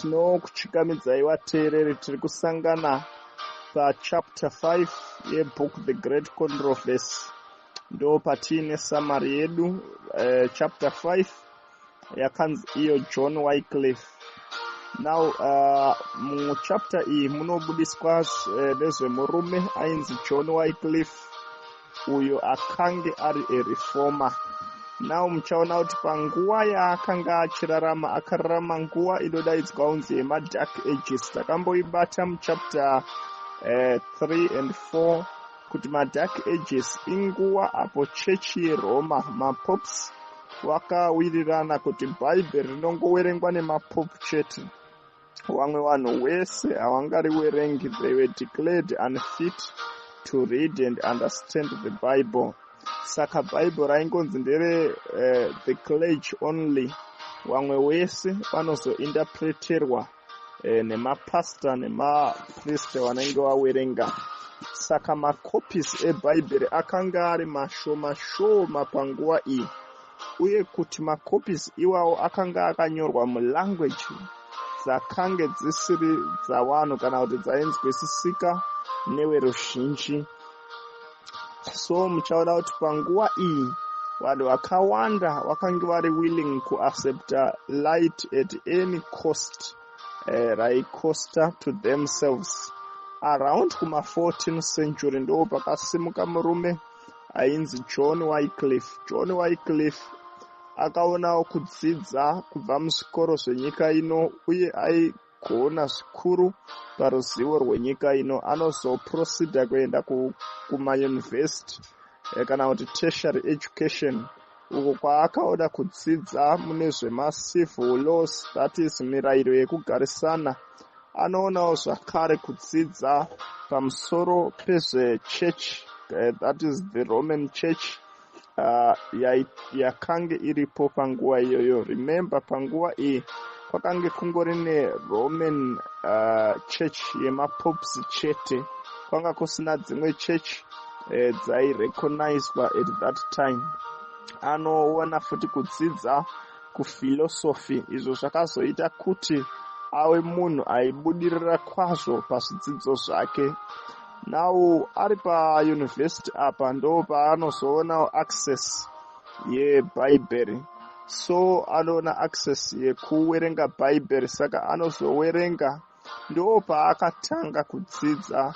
tinokuchikamidzai vateereri tiri kusangana pachapter 5 yebook the great controversy ndo patiine samari yedu uh, chapter 5 yakanzi iyo john wycliff now uh, muchapter iyi munobudiswa eh, nezvemurume uh, ainzi john wycliff uyo akange ari ereformer now muchaona kuti panguva yaakanga achirarama akararama nguva inodaidzwa unzi yemadark ages takamboibata muchapter uh, 3 and 4 kuti madark ages inguva apo chechi yeroma mapops vakawirirana kuti bhaibheri rinongoverengwa nemapopu chete vamwe vanhu wese havangariverengi they were declared unfit to read and understand the bible saka bhaibheri raingonzi ndere uh, the clerge only vamwe wese vanozoindapreterwa e, nemapastor nemaprist vanenge vawerenga saka macopies ebhaibheri akanga ari mashoma shoma panguva iyi uye kuti macopies iwawo akanga akanyorwa mulanguage dzakange dzisiri dzawanhu kana kuti dzainzwisisika neweruzhinji so muchaona kuti panguva iyi vanhu vakawanda vakange vari willing kuaccepta light at any cost uh, eh, raicosta to themselves around kuma14 century ndo pakasimuka murume ainzi john wycliff john wycliff akaonawo kudzidza kubva muzvikoro zvenyika ino uye kuona zvikuru paruzivo rwenyika ino anozoproceda kuenda kumayunivhesiti eh, kana kuti tertiary education uko kwaakaoda kudzidza mune zvemacivil laws that is mirayiro yekugarisana anoonawo zvakare kudzidza pamusoro pezvechechi eh, that is the roman church uh, yakange ya iripo panguva iyoyo remember panguva iyi kwakange kungori neroman uh, church yemapops chete kwanga kusina dzimwe church eh, dzairecognizwa at that time anoona futi kudzidza kufilosofi izvo zvakazoita kuti ave munhu aibudirira kwazvo pazvidzidzo zvake now ari pauniversity apa ndo paanozoona access yebhaibheri so anoona access yekuwerenga bhaibheri saka anozowerenga ndo paakatanga kudzidza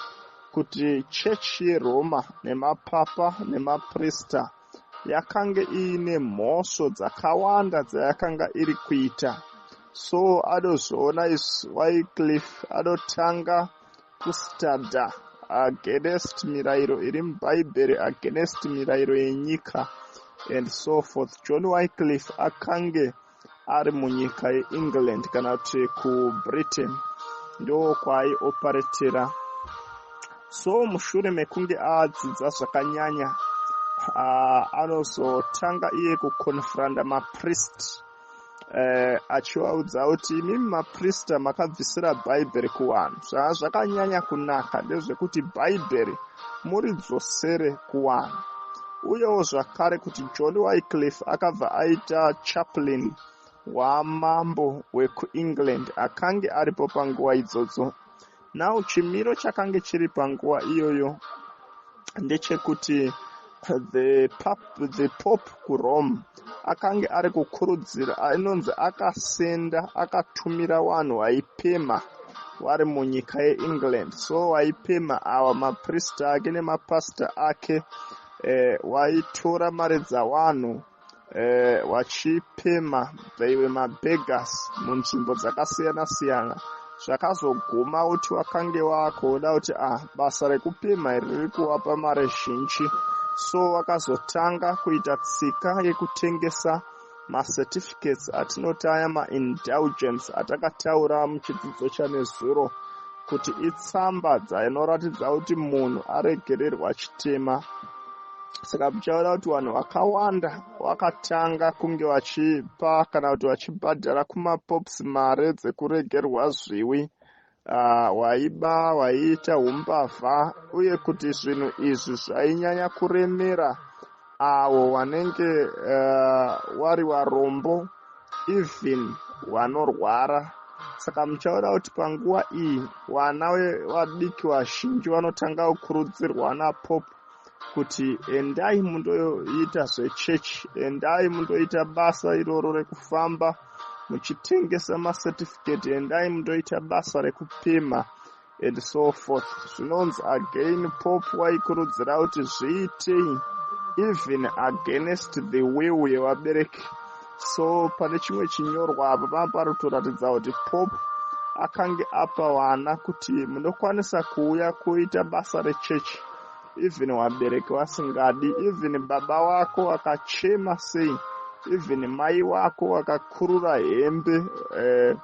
kuti chechi yeroma nemapapa nemaprista yakange iine mhosvo dzakawanda dzayakanga iri kuita so anozoona isu wycliff anotanga kustada against mirairo iri mubhaibheri against mirairo yenyika and so forth john wycliff akange ari munyika yeengland kana kuti kubritain ndookwaaioperatora so mushure mekunge adzidza zvakanyanya anozotanga iye kuconfronta maprist eh, achivaudza kuti imi maprista makabvisira bhaibheri kuvanhu zvaa zvakanyanya kunaka ndezvekuti bhaibheri muridzosere kuvanhu uyewo zvakare kuti john wycliff akabva aita chaplin wamambo wekuengland akange aripo panguva idzodzo Now chimiro chakange chiri panguva iyoyo ndechekuti the pop the pop kurome akange ari kukurudzira anonzi akasenda akatumira vanhu vaipema vari munyika yeengland so vaipema ava maprista ake nemapasita ake eh, waitora mari dzawanhu eh, vachipemha vaive mabegas munzvimbo dzakasiyana siyana zvakazoguma kuti wakange wakuona kuti ah basa rekupemha iri riri kuvapa mari zhinji so wakazotanga kuita tsika yekutengesa macertificates atinoti aya maindulgence atakataura muchidzidzo chanezuro kuti itsamba dzainoratidza kuti munhu aregererwa chitema saka muchaona kuti vanhu vakawanda vakatanga kunge vachipa kana kuti vachibhadhara kumapops mare dzekuregerwa zviwi ah, waiba uh, waiita umbavha uye kuti zvinhu izvi zvainyanya kuremera avo uh, vanenge uh, wari varombo even vanorwara saka muchaona kuti panguva iyi vana vadiki vazhinji vanotanga kukurudzirwa napopu kuti endai mundoita zvechechi endai mundoita basa iroro rekufamba muchitengesa macertificate endai mundoita basa rekupima and so forth zvinonzi again pop waikurudzira kuti zviitei even against the will yevabereki so pane chimwe chinyorwa apa panga pari kutoratidza kuti pop akange apa vana kuti munokwanisa kuuya kuita basa rechechi even vabereki vasingadi even baba wako akachema sei even mai wako akakurura hembe eh,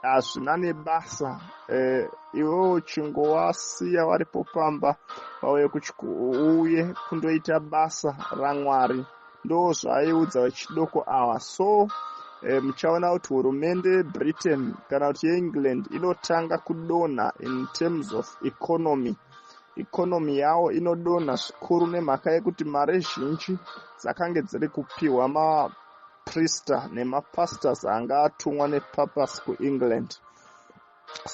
hazvina nebasa eh, iwewo chingowasiya varipo pamba vauye kuuye kundoita basa ramwari ndozvaiudza vechidoko awa so eh, muchaona kuti hurumende yebritain kana kuti yeengland inotanga kudonha in terms of economy economy yawo inodonha zvikuru nemhaka yekuti mari zhinji dzakange dziri kupiwa maprister nemapastors anga atumwa nepurpose kuengland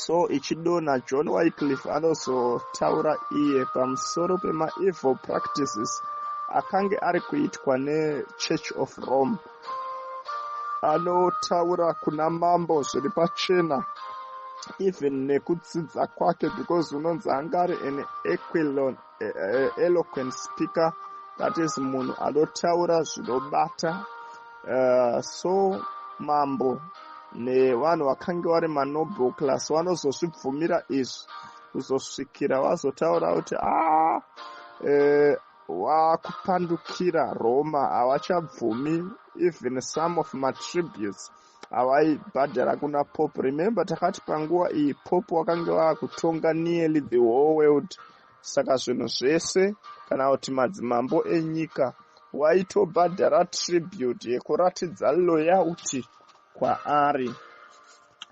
so ichidona john wycliff anozotaura iye pamusoro pemaevil practices akange ari kuitwa nechurch of rome anotaura kuna mambo zviri pachena even nekudzidza kwake because unonzi angari an equilon e, e, eloquent speaker that is munhu anotaura zvinobata uh, so mambo nevanhu vakange vari manoble class vanozozvibvumira izvi kuzosvikira vazotaura kuti a ah, eh, wakupandukira roma havachabvumi even some of matributes havaibhadhara kuna pop remember takati panguva iyi pop wakange vakutonga nearly the whole world saka zvinhu zvese kana kuti madzimambo enyika waitobhadhara tribute yekuratidza loyalty kwaari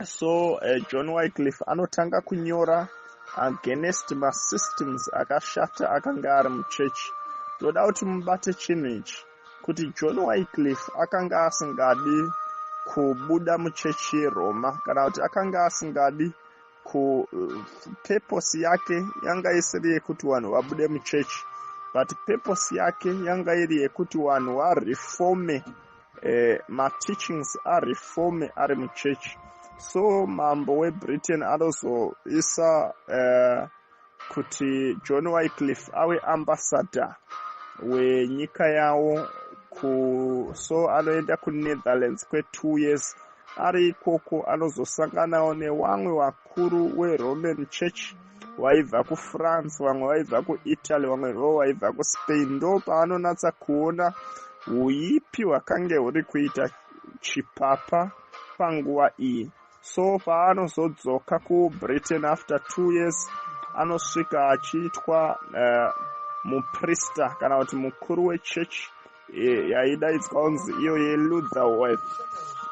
so uh, john wycliff anotanga kunyora against masystems akashata akanga ari muchechi toda kuti mubate chinhu ichi kuti john wycliff akanga asingadi kubuda muchechi yeroma kana kuti akanga asingadi kupeposi eh, yake yanga isiri yekuti vanhu vabude muchechi but peposi yake yanga iri yekuti vanhu varefome eh, mateachings arefome ari muchechi so mambo webritain anozoisa eh, kuti john wycliff ave ambassador wenyika yawo ku so anoenda kunetherlands kwetwo years ari ikoko anozosanganawo newamwe vakuru weroman church vaibva kufrance vamwe vaibva kuitaly vamwe vo vaibva kuspain ndo paanonatsa kuona uipi hwakange huri kuita chipapa panguva iyi so paanozodzoka kubritain after two years anosvika achiitwa uh, muprista kana kuti mukuru wechechi eh, yaidaidzwa kunzi iyo yelutherworth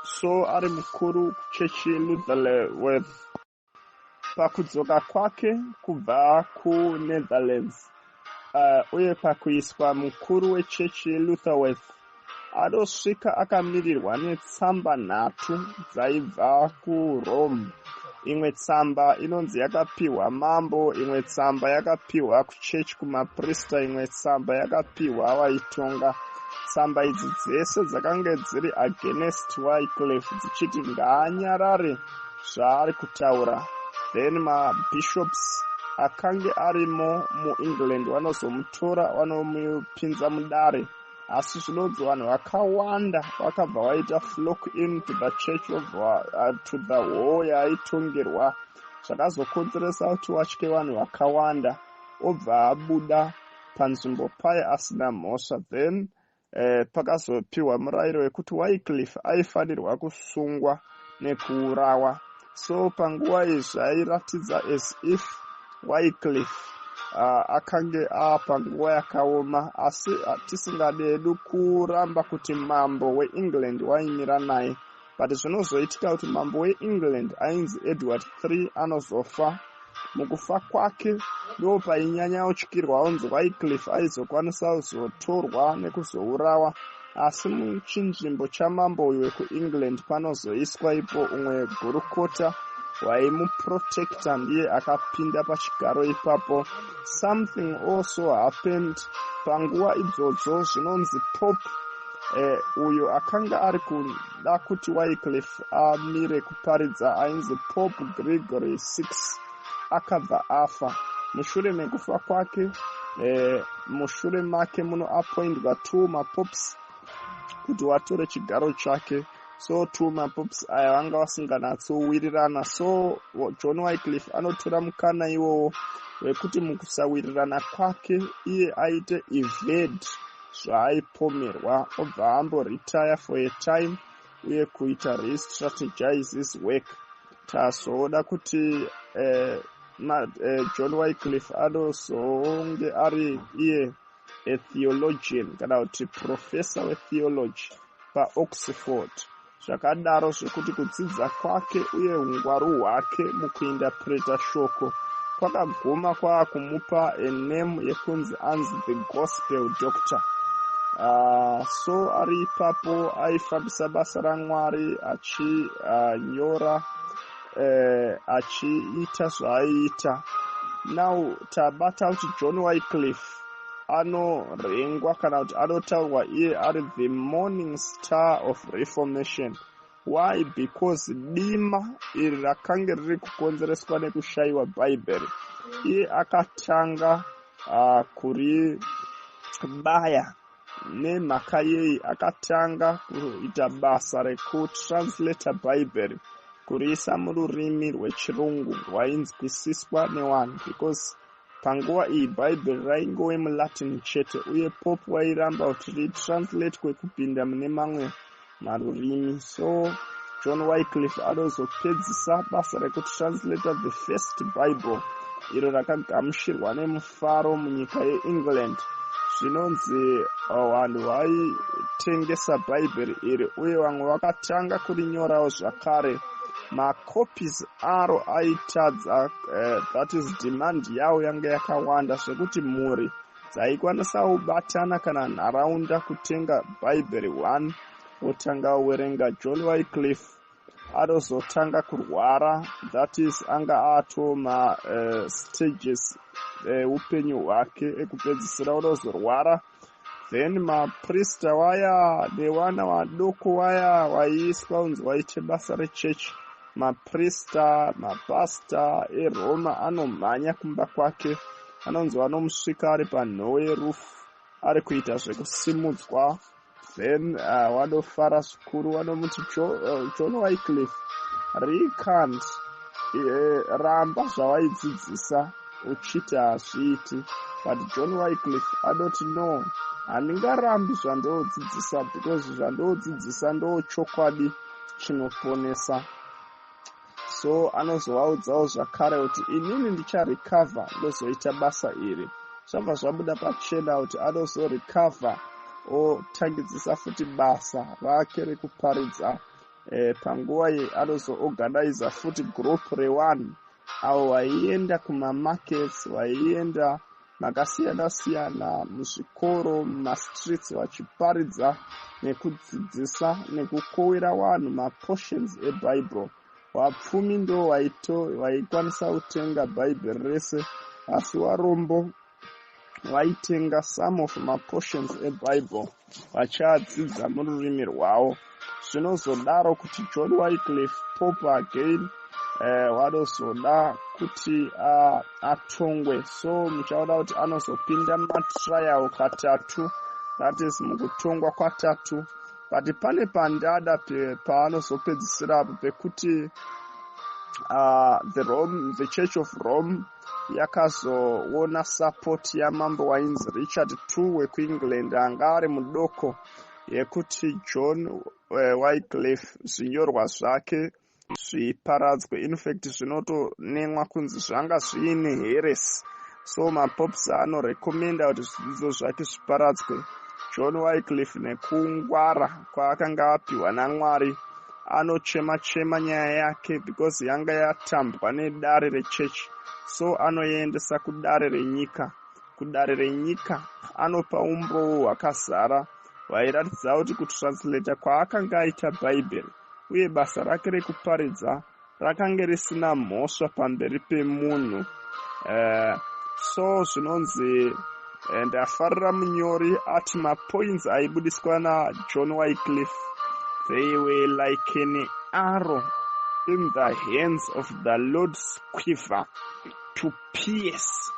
so ari mukuru kuchechi yelutherworth pakudzoka kwake kubva kunetherlands uh, uye pakuiswa mukuru wechechi yelutherworth adosvika akamirirwa netsamba nhatu dzaibva kurome imwe tsamba inonzi yakapiwa mambo imwe tsamba yakapiwa kuchechi kumaprista imwe tsamba yakapiwa vaitonga tsamba idzi dzese dzakange dziri against wycliff dzichiti ngaanyarare zvaari kutaura then mabishops akange arimo muengland vanozomutora vanomupinza mudare asi zvinonzi vanhu vakawanda vakabva vaita flock in to the church of uh, to the hall yaaitongerwa zvakazokonzeresa kuti watye vanhu vakawanda obva abuda panzvimbo paye asina mhosva then eh, pakazopiwa murayiro wekuti wycliff aifanirwa kusungwa nekuurawa so panguva iyi zvairatidza as if wycliff uh, akange apanguva yakaoma asi ah, tisingadi hedu kuramba kuti mambo weengland waimira naye but zvinozoitika kuti mambo weengland ainzi edward iii anozofa mukufa kwake ndo painyanya utyirwa unzi wycliff aizokwanisa kuzotorwa nekuzourawa asi muchinzvimbo chamambo uyu wekuengland panozoiswa ipo umwe gurukota waimuprotecta ndiye akapinda pachigaro ipapo something also happened panguva idzodzo zvinonzi pope Eh, uyo akanga ari kuda kuti wycliff amire kuparidza ainzi pope gregory six akabva afa mushure mekufa kwake eh, mushure make munoapoindwa two mapops kuti watore chigaro chake so two mapops aya vanga vasinganatsowirirana so john wycliff anotora mukana iwowo wekuti mukusawirirana kwake iye aite evade zvaaipomerwa obva amboretire for a time uye kuita restrategize his work tazoda kuti eh, ma, eh, john wycliff anozonge ari iye a theologian kana kuti professor wetheology paoxford zvakadaro zvekuti kudzidza kwake uye ungwaru hwake mukuindapreta shoko kwakaguma kwaakumupa ename yekunzi anzi the gospel doctor uh, so ari ipapo aifambisa basa ramwari achinyora ah, uh, eh, uh, achiita zvaaiita now tabata kuti john wycliff anorengwa kana kuti anotaurwa iye ari the morning star of reformation why because dima iri rakange riri kukonzereswa nekushayiwa bhaibheri iye akatanga uh, kuribaya nemhaka yei akatanga kuita basa rekutranslata bhaibheri kuriisa mururimi rwechirungu rwainzwisiswa newanhu because Panguva iyi Bhaibheri raingove muLatin chete, uye Pope wairamba kuti ritranslatewe kupinda mune mamwe marurimi. So John Wycliffe anozopedzisa basa rekutranslata the first Bible, iro rakagamuchirwa nemufaro munyika yeEngland. Zvinonzi uh, vanhu vaitengesa Bhaibheri iri, uye vamwe vakatanga kurinyorawo zvakare. macopies aro aitadza uh, that is demand yawo yanga yakawanda zvekuti mhuri dzaikwanisa kubatana kana nharaunda kutenga bhaibheri one wotanga werenga john wycliff atozotanga kurwara that is anga atoma uh, eh, stages eh, upenyu hwake ekupedzisira unozorwara then maprista waya nevana vadoko waya waiiswa unzi waite basa rechechi maprista mapasta eroma anomhanya kumba kwake anonzi vanomusvika ari panhowe rufu ari kuita zvekusimudzwa then uh, wanofara zvikuru wanomuti uh, john wycliff recant uh, ramba zvawaidzidzisa uchiti hazviiti but john wycliff anoti no handingarambi zvandoodzidzisa because zvandoodzidzisa ndoochokwadi chinoponesa so anozovaudzawo zvakare kuti inini ndicharecover ndozoita basa iri zvabva zvabuda pachena kuti anozorecover otangidzisa futi basa rake rekuparidza eh, panguva ye anozoorganiza futi group reone avo vaienda kumamarkets vaienda makasiyana siyana muzvikoro mumastreets vachiparidza nekudzidzisa nekukowira vanhu maportions ebible vapfumi ndo vaito vaikwanisa kutenga bhaibheri rese asi varombo vaitenga some of maportions ebible vachadzidza mururimi rwavo zvinozodaro kuti john wycliff pope again eh, wanozoda uh, kuti uh, atongwe so muchaona kuti anozopinda matrial katatu that is mukutongwa kwatatu but pane pandada paanozopedzisira apo pekuti uh, the rome the church of rome yakazoona support yamambo wainzi richard t wekuengland anga ari mudoko yekuti john eh, wycliff zvinyorwa zvake zviparadzwe infact zvinotonemwa kunzi zvanga zviine heresi so mapops anorecommenda kuti zvidzidzo zvake zviparadzwe john wycliff nekungwara kwaakanga apiwa naMwari anochema chema nyaya yake because yanga yatambwa nedare rechechi so anoendesa kudare renyika kudare renyika anopa umbowo hwakazara hwairatidza kuti kutranslata kwaakanga aita bhaibheri uye basa rake rekuparidza rakange risina mhosva pamberi pemunhu uh, so zvinonzi eh, ndafarira munyori ati mapoints aibudiswa najohn wycliff they were like an arrow in the hands of the lord squiver to pierce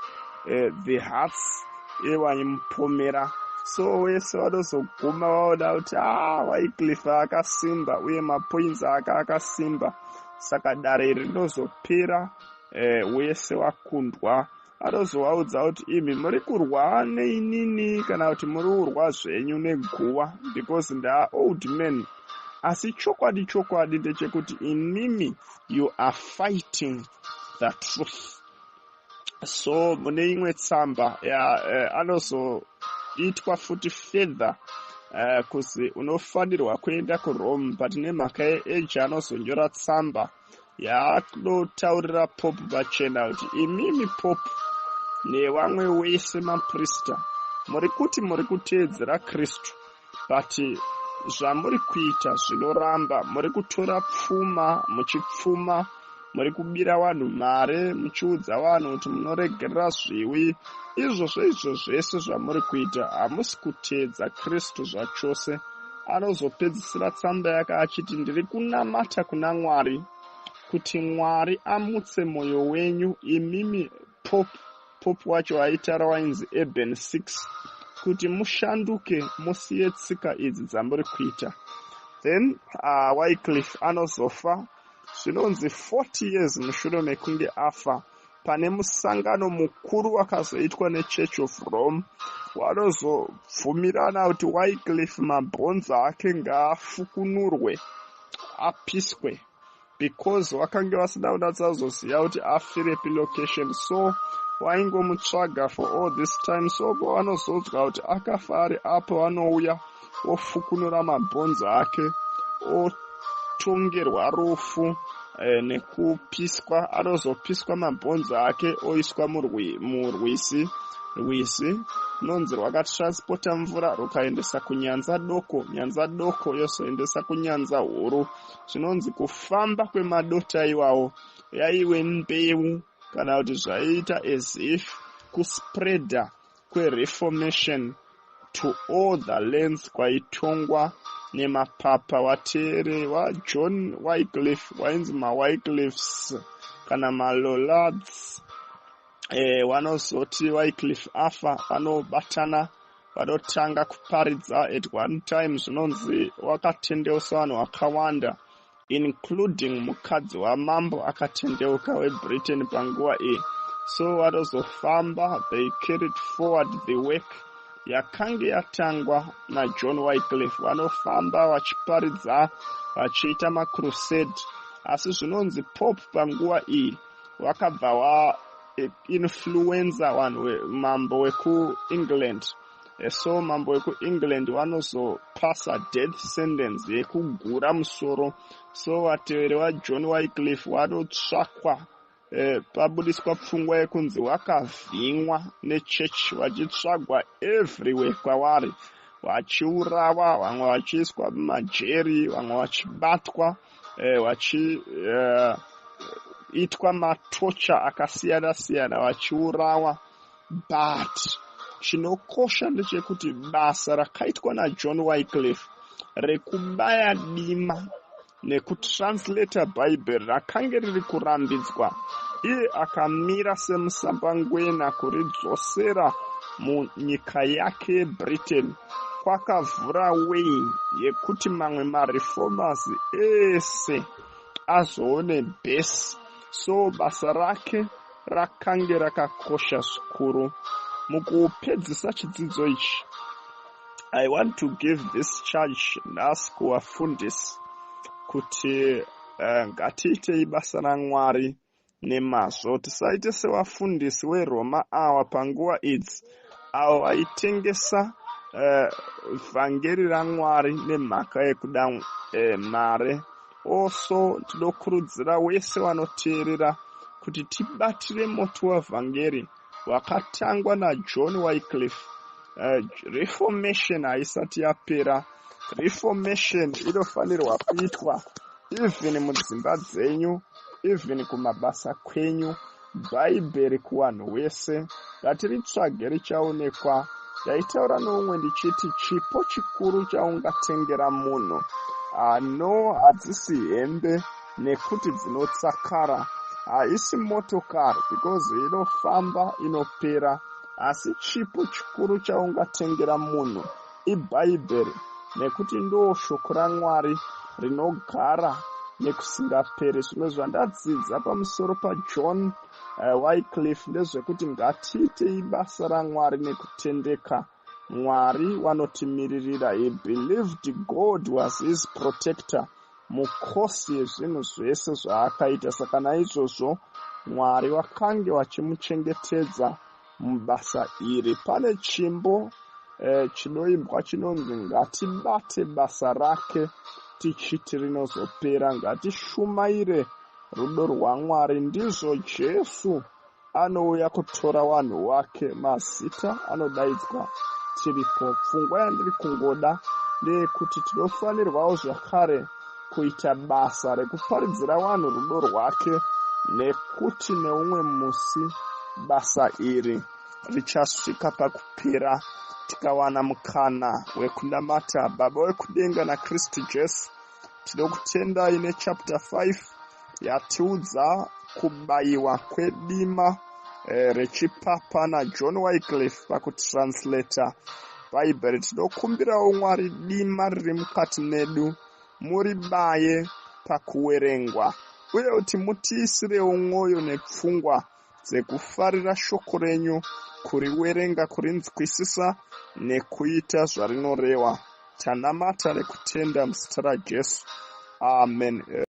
uh, the hearts evaimupomera so wese vanozoguma vaona kuti a ah, wycliff akasimba uye mapoints aka akasimba saka dare iri rinozopera eh, wese wakundwa anozovaudza kuti imi muri kurwa neinini kana kuti muri kurwa zvenyu neguva because ndaa old man asi chokwadi chokwadi ndechekuti inimi you are fighting the truth so mune imwe tsamba ya eh, anozoitwa futi further eh, kuzi unofanirwa kuenda kurome but nemhaka yeage anozonyora tsamba yaanotaurira pope vachena kuti imimi pope nevamwe wese maprista muri kuti muri kuteedzera kristu but zvamuri kuita zvinoramba muri kutora pfuma muchipfuma muri kubira vanhu mari muchiudza vanhu kuti munoregerera zviwi izvozvo izvo zvese zvamuri kuita hamusi kuteedza kristu zvachose anozopedzisira tsamba yake achiti ndiri kunamata kuna mwari kuti mwari amutse mwoyo wenyu imimi pop pop wacho aitara wainzi eben six kuti mushanduke musiye tsika idzi dzamuri kuita then uh, wycliff anozofa zvinonzi 40 years mushure mekunge afa pane musangano mukuru wakazoitwa nechurch of rome wanozobvumirana kuti wycliff mabhonzo ake ngaafukunurwe apiswe because vakange vasina kunatsazoziva kuti afirepi location so waingomutsvaga for all this time so pavanozodzwa kuti akafa ari apo vanouya ofukunura mabhonzi ake otongerwa rufu eh, nekupiswa anozopiswa mabhonzi ake oiswa murwisi rwisi runonzi rwakatranspota mvura rukaendesa kunyanza doko nyanza doko yozoendesa kunyanza huru zvinonzi kufamba kwemadota iwawo yaive mbeu kana kuti zvaiita as if kuspreader kwereformation to all the lands kwaitongwa nemapapa wateere wajohn wycliff wainzi mawycliffs kana malolads e, eh, wanozoti wycliff afa vanobatana vanotanga kuparidza at one time zvinonzi wakatendeusa vanhu vakawanda including mukadzi wamambo akatendeuka webritain panguva iyi so vanozofamba they carried forward the work yakange yatangwa najohn wycliff vanofamba vachiparidza vachiita macrusade asi zvinonzi pope panguva iyi wakabva wa influenza vanhu mambo wekuengland eh, so mambo wekuengland vanozopasa death sentence yekugura musoro so vateveri vajohn wycliff vanotsvakwa eh, pabudiswa pfungwa yekunzi wakavhimwa nechurch vachitsvagwa everywhere kwavari vachiurawa vamwe vachiiswa mumajeri vamwe vachibatwa eh, vachiitwa eh, matocha akasiyana siyana vachiurawa but chinokosha ndechekuti basa rakaitwa najohn wycliff rekubaya dima nekutranslata bhaibheri rakange riri kurambidzwa iye akamira semusambangwena kuridzosera munyika yake yebritain kwakavhura way yekuti mamwe mareformers ese azoone base so basa rake rakange rakakosha zvikuru mukupedzisa chidzidzo ichi i want to give this charge nhasi kuvafundisi kuti eh, ngatiitei basa ramwari nemazvo tisaite sevafundisi weroma awa panguva idzi avo vaitengesa eh, vhangeri uh, ramwari nemhaka yekuda uh, mare oso tinokurudzira wese wanoteerera kuti tibatire moto wevhangeri wakatangwa najohn wycliff uh, eh, reformation haisati yapera reformation inofanirwa kuitwa even mudzimba dzenyu even kumabasa kwenyu bhaibheri kuvanhu wese ngatiritsvage richaonekwa ndaitaura noumwe ndichiti chipo chikuru chaungatengera munhu ano hadzisi hembe nekuti dzinosakara haisi motokari because inofamba inopera asi chipo chikuru chaungatengera munhu ibhaibheri nekuti ndoo shoko ramwari rinogara nekusingaperi zvimwe zvandadzidza pamusoro pajohn uh, eh, wycliff ndezvekuti ngatiitei basa ramwari nekutendeka Mwari wanotimiririra he believed God was his protector mukhosi yezvinhu zvese zvaakaita saka naizvozvo Mwari wakange wachimuchengetedza mubasa iri pane chimbo eh, chinoimbwa chinonzi ngatibate basa rake tichiti rinozopera ngatishumaire rudo rwamwari ndizvo jesu anouya kutora wanhu wake mazita anodaidzwa tiripo pfungwa yandiri kungoda ndeyekuti tinofanirwawo zvakare kuita basa rekuparidzira wanhu rudo rwake nekuti neumwe musi basa iri richasvika pakupera tikawana mukana wekunamata baba wekudenga nakristu jesu tinokutendai nechapter 5 yatiudza kubayiwa kwedima eh, rechipapa najohn wycliff pakutranslator bhaibheri tinokumbirawo mwari dima riri mukati medu muribaye pakuwerengwa uye kuti mutiisirewo mwoyo nepfungwa dzekufarira shoko renyu kuriwerenga kurinzwisisa nekuita zvarinorewa tanamata rekutenda muzita rajesu amen